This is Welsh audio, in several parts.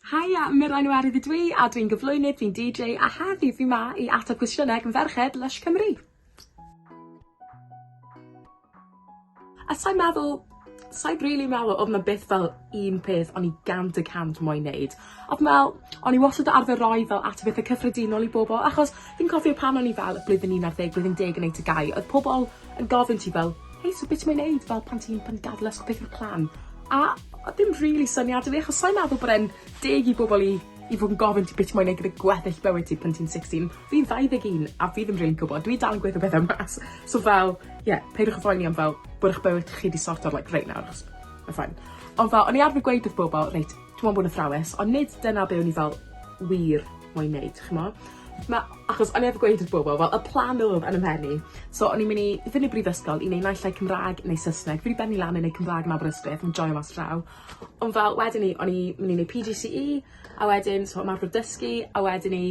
Haia, Mirain yw Arwydd ydw i a dwi'n gyflwynydd, fi'n DJ a heddi fi ma i ateb cwestiynau gan ferched Lush Cymru. A sa'n meddwl, sa'i rili meddwl odd 'na byth fel un peth o'n i gant y cant moyn neud. A fi'n me'wl o'n i wastad arfer roi fel atebethe cyffredinol i bobol achos fi'n cofio pan o'n i fel y blwyddyn un ar ddeg blwyddyn deg yn neud tŷ gau odd pobol yn gofyn ti fel hei so be' ti moyn neud fel pan ti'n pan ti'n gadel ysgol beth yw'r plan? A odd dim rili syniad 'da fi achos sai'n meddwl bod e'n deg i bobol i i fod yn gofyn ti be' ti moyn neud gyda gweddill bywyd ti pan ti'n sixteen. Fi'n ddau ddeg un a fi ddim rili'n gwbod dwi dal yn gweud y pethe 'ma s- so fel ie peidiwch â phoeni am fel bod 'ych bywyd chi 'di sorto like reit nawr achos ma' fine. Ond fel o'n i arfer gweud wrth bobol reit Dwi'n meddwl bod yn athrawes, ond nid dyna be' o'n i fel wir moyn neud ch'mo'? Ma'... Achos o'n i arfer gweud wrth bobol fel y plan odd yn 'y mhen i so o'n i'n myn' i fyn' i brifysgol i neu' naill ai Cymra'g neu Sysneg fi 'di benni lan yn neu' Cymra'g yn Aberystwyth yn joio mas draw ond fel wedyn i o'n i myn' i neu' Pee Gee See Eee a wedyn so ymarfer dysgu a wedyn i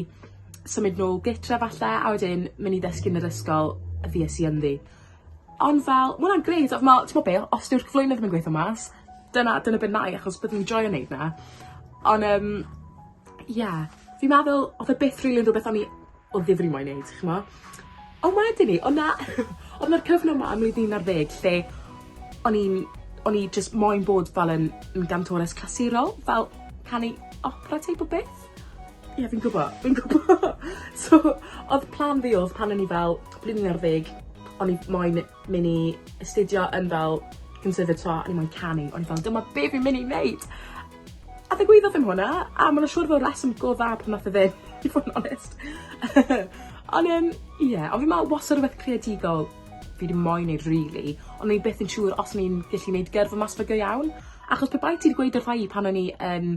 symud nôl gytre falle a wedyn myn' i ddysgu yn yr ysgol y fues i ynddi. Ond fel, ma' wnna'n grêt a ma' t'mo' be' os dyw'r cyflwyno ddim yn gweitho mas dyna dyna be' 'nai achos byddwn i'n joio neud 'na. On' yym ie fi'n meddwl odd e byth rili yn rwbeth o'n i o ddifri mo'u neud ch'mo'? On' wedyn 'ny o' 'na odd 'na'r cyfnod 'ma ym mlwyddyn un ar ddeg lle o'n i'n o'n i jyst moyn bod fel yn yn gantores clasurol fel canu opera teip o beth. Ie, yeah, fi'n gwbo, fi'n gwbo. so, oedd plan fi oedd pan o'n i fel blwyddyn ar ddeg, o'n i moyn mynd i astudio yn fel conservatoire, o'n i moyn canu, o'n i fel dyma be fi'n mynd i wneud. A ddigwyddodd ddim hwnna, a mae'n siŵr fod reswm go dda pan nath o ddim, i fod yn onest. ond um, ie, yeah, ond fi'n meddwl wastad rhywbeth creadigol fi ddim moyn neud really, ond ni beth yn siŵr os ni'n gallu neud gyrfa mas fe go iawn. Achos pe bai ti wedi gweud wrtha i pan o'n i yn um,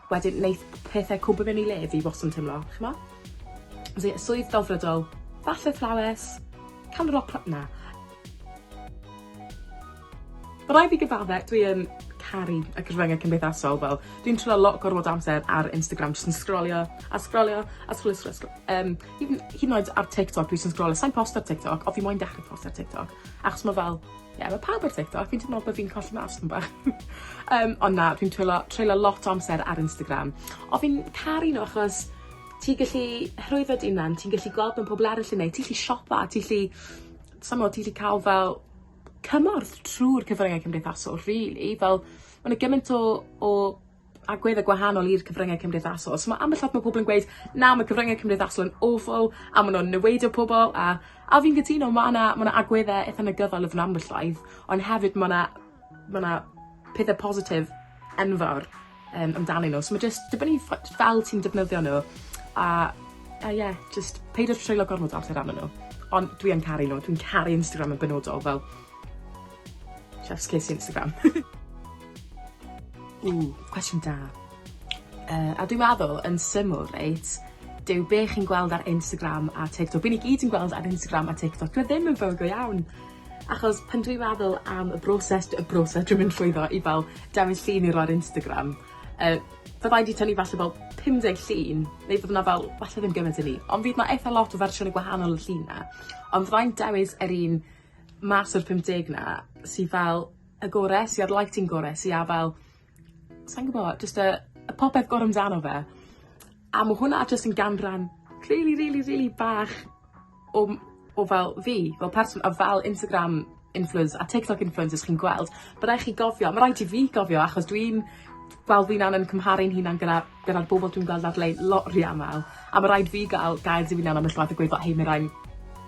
Wedyn neith pethe cwmpo mewn i le fi wastad yn teimlo, ch'mo? As in swydd delfrydol, bach o athrawes, cam roc cla- na. Ma' rai' fi gyfadde dwi yn caru y cyfrynge cymdeithasol fel dwi'n treulio lot gormod o amser ar Instagram jyst yn sgrolio a sgrolio a sgrolio sgrolio sgrolio yym hyd yn hyd yn oed ar TikTok dwi jys yn sgrolio sai'n posto ar TikTok on' fi moyn dechre posto ar TikTok. Achos ma' fel, ie, ma' pawb ar TikTok, fi'n teimlo bo' fi'n colli mas dipyn bach. Yym, ond na, dwi'n twyllo treulio lot o amser ar Instagram. O fi'n caru n'w achos ti gallu rhwyddo dy unan, ti'n gallu gweld be' ma' pobol arall yn neud, ti 'llu siopa, ti 'llu sai mod ti 'llu ca'l fel cymorth trw'r cyfrynge cymdeithasol rili fel ma' 'na gyment o o agwedde gwahanol i'r cyfryngau cymdeithasol. So mae ambell lot mae pobl yn gweud na mae cyfryngau cymdeithasol yn awful a maen nhw'n niweidio pobl a a fi'n gytuno mae yna mae yna agwedde eitha negyddol yn ambell waith ond hefyd mae yna mae yna pethau positif enfawr um, amdanyn nhw. So mae jyst dibynnu fel ti'n defnyddio nhw a, a yeah, just peidio treulio gormod o amser arnyn nhw. Ond dwi yn caru nhw, dwi'n caru Instagram yn benodol fel Chef's kiss Instagram. Ww, cwestiwn da. Uh, a dwi'n meddwl, yn syml, reit, dyw be chi'n gweld ar Instagram a TikTok, byn i gyd yn gweld ar Instagram a TikTok, dwi ddim yn fawr go iawn. Achos pan dwi'n meddwl am y broses, y broses dwi'n mynd llwyddo i fel dewis llun i roi'r Instagram, uh, byddai di tynnu falle fel 50 llun, neu bydd yna fel, falle ddim gymaint i ni, ond fydd yna eitha lot o fersiwn y gwahanol y llun na. Ond fyddai'n dewis yr un mas o'r 50 'na sy fel y gore, sy a'r lighting gore, sy a fel sai'n gwbo, jyst y y popeth gore amdano fe. A ma' hwnna jyst yn ganran rili rili rili bach o m- o fel fi fel person a fel Instagram influence- a TikTok influencers chi'n gweld, ma' rai' chi gofio, ma' raid i fi gofio achos dwi'n Wel fi'n anen cymharu'n hunan gyda gyda'r bobol dwi'n gweld ar-lein lot rhy amal a ma' raid fi ga'l gair di fi'n anabl ll'wat a gweud fel hei ma' rain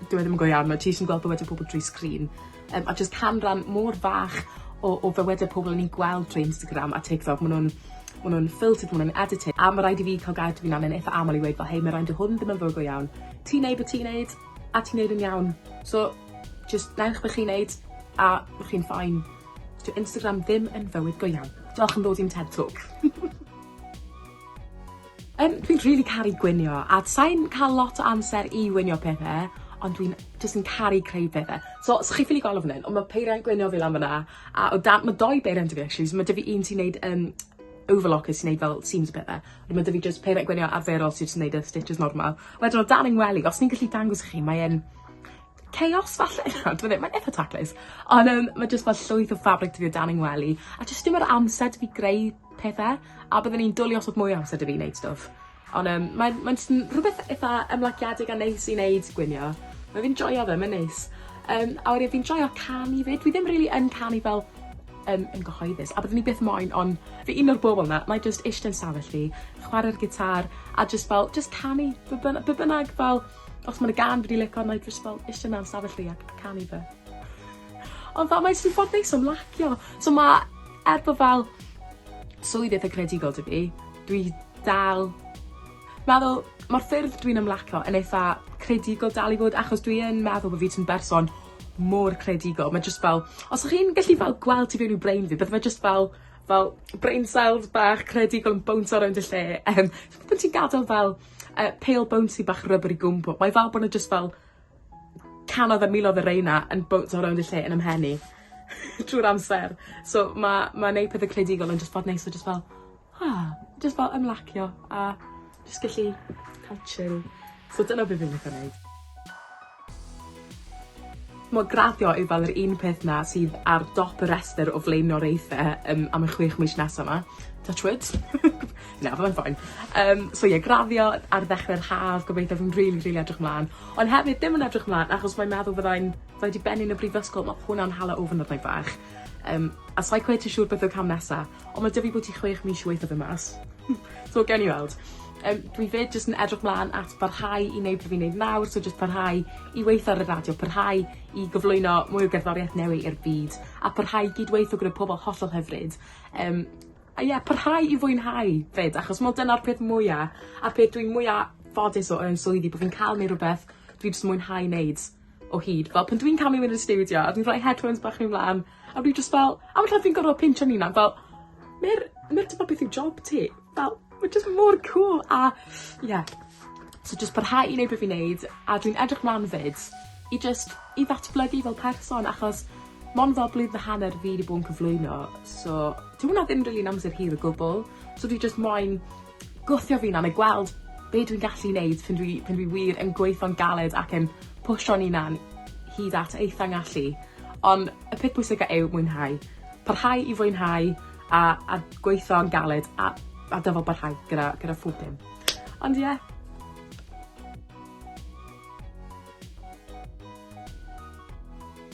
dyw e ddim yn go iawn ma' ti jys yn gweld bywyde pobol drwy sgrin yym a jys canran mor fach o o fywyde pobol o'n i'n gweld trwy Instagram a TikTok ma' nw'n ma' nw'n filtered ma' nw'n edited a ma' raid i fi ca'l gair fi'n anen itha amal i weud fel hei ma' rain dyw hwn ddim yn fywyd go iawn ti'n neud be' ti'n neud a ti'n neud e'n iawn so jys newch be' chi'n neud a bo' chi'n fine. Dyw Instagram ddim yn fywyd go iawn. Diolch am ddod i'n Ted Talk. Yym dwi'n rili caru gwnïo a sai'n cael lot o amser i wnïo pethe ond dwi'n jyst yn caru creu pethe. So os chi ffili gweld o fan 'yn on' ma' peiriant gwnïo fi lan fyn 'na a o dan ma' dou beiriant 'da fi actually so ma' 'da fi un sy'n neud yym overlock sy'n neud fel seams a pethe. Wedyn ma' 'da fi jyst peiriant gwnïo arferol sy jyst yn neud y stitches normal. Wedyn o dan 'yn ngwely os fi'n gallu dangos i chi mae e'n chaos falle? Na, dwi ddim, mae'n itha taclus. Ond um, mae jyst fel llwyth o fabric dwi o dan yng ngwely. A jyst dim yr amser dwi greu pethau. A byddwn i'n dwlu os oedd mwy o amser dwi wneud stwff. Ond um, mae'n mae rhywbeth eitha ymlaciedig a neis i wneud gwynio. Mae fi'n joio fe, mae'n neis. Um, a wedi fi'n joio canu fyd. Dwi ddim really yn canu fel um, yn gyhoeddus. A byddwn i beth moyn, ond fi un o'r bobl yna, mae just eistedd yn safell fi, chwarae'r gitar, a just fel, just canu, be bynnag fel, Os mae'n gan fi di lico arno i just fel eisiau mewn stafell fi ac canu fe. Ond fel mae jyst yn ffordd neis o'n lacio. So mae, er bod fel swydd eitha credigol dwi fi, dwi dal meddwl mae'r ffyrdd dwi'n ymlacio yn eitha credigol dal i fod achos dwi yn meddwl bod fi ti'n berson mor credigol. Mae jyst fel, os ych chi'n gallu fel gweld ti fewn i'w brain fi, bydde fe jyst fel, fel brain cells bach credigol yn bownsio rownd y lle. Yym, ti'n gadael fel uh, pale bouncy bach rubbery gumbo. Mae fel bod nhw just fel canodd a milodd y reina yn bounce o rownd y lle yn ymhenni trwy'r amser. So mae ma neud pethau credigol yn just bod neis o just fel, ah, just fel ymlacio a just gallu cael chill. So dyna beth fi'n licio neud. Mae graddio i fel yr un peth 'na sydd ar dop y rhestr o flaenoriaethe yym am y chwech mis nesa 'ma. Touch wood. Na, fyddai'n fine. Yym so ie graddio ar ddechre'r haf gobeithio fi'n rili rili edrych mlan ond hefyd ddim yn edrych mlan achos mae'n meddwl fyddai'n fyddai 'di bennu yn y brifysgol ma' hwnna'n hala ofn arna i bach. Yym a sai cweit yn siŵr beth yw cam nesa. Ond mae 'da fi bwyty chwech mis i weithio fe mas. So gawn ni weld. Yym dwi 'fyd jyst yn edrych mlan at barhau i neud be' fi'n neud nawr so jyst parhau i weitho ar y radio parhau i gyflwyno mwy o gerddorieth newy i'r byd a parhau i gyd-weitho gyda pobol hollol hyfryd yym a ie parhau i fwynhau 'fyd achos m'o dyna'r peth mwya a'r peth dwi mwya ffodus o yn swyddi bo' fi'n ca'l neu' rwbeth dwi jys mwynhau neud. o hyd fel pan dwi'n camu mynd i'r stiwdio a dwi'n rhoi headphones bach fi'n mlan a fi jyst fel a ma' fi'n gorfod pincho fy unan fel ma'r ma'r t'mo' beth yw job ti. Fel ma' jyst mor cŵl a ie. So jyst parhau i neud be' fi'n neud a dwi'n edrych mlan 'fyd i jyst i ddatblygu fel person achos mond fel blwyddyn a hanner fi 'di bo' yn cyflwyno so dyw wnna ddim rili'n amser hir o gwbwl so dwi jyst moyn Gwthio fi'n annog gweld be dwi'n gallu neud pan dwi pan dwi wir yn gweitho'n galed ac yn pwsio'n unan hyd at eitha ngallu. Ond y peth pwysica yw mwynhau. Parhau i fwynhau a a gweitho'n galed a a dyfal barhau gyda gyda phob dim. Ond ie. Yeah.